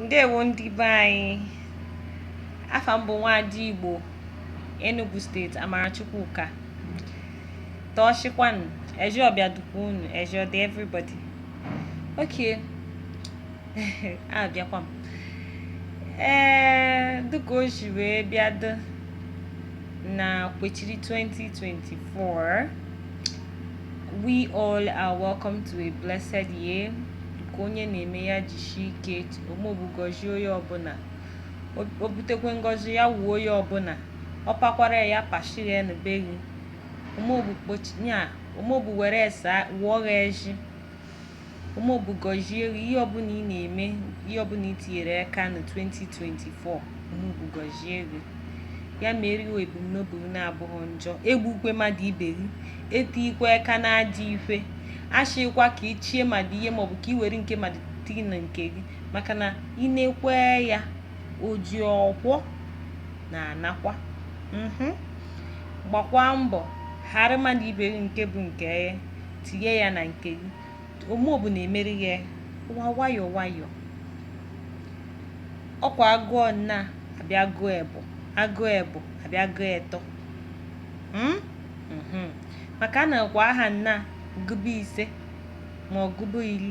ndewo ndị be anyị afa m bụ nwaada igbo enugu state amarachukwu ụka tọọchịkwanụ eje ọbịa dukwa unu eje ọdị everybody okay abịakwa m ee dịka o si wee bịa dị na kwechiri 2024 We all are welcome to a blessed year. Ka onye na-eme ya jishi ike omobu gọzie onye ọbụla. O butekwe ngọzi ya wuo onye ọbụla. Ọ pakwara ya pashiri ya n'ebe gị. Omobu kpochi ya omobu were esa wụọ gị eshi. Omobu gọzie gị ihe ọbụla ị na-eme ihe ọbụla ị tinyere aka na 2024 Omobu gọzie gị ya mere ihe ebumnobi gị na-abụghị njọ egbukwe mmadụ ibe gị etikwa aka n'ajọ ife ashịkwa ka i chie mmadụ ihe maọbụ ka i were nke mmadụ tii na nke gị maka na ị na-ekwe ya oji ọkwọ na-anakwa mhm. gbakwa mbọ ghara mmadụ ibe gị nke bụ nke ya tinye ya na nke gị omobu na-emeri ya ụwa nwayọọ nwayọọ ọkwa agụọ naa abịa gụọ ebọ agụọ ebọ abịa gụọ etọ Mm? Mhm. maka anakwa aha naa gụba ise ma ọ gụba ili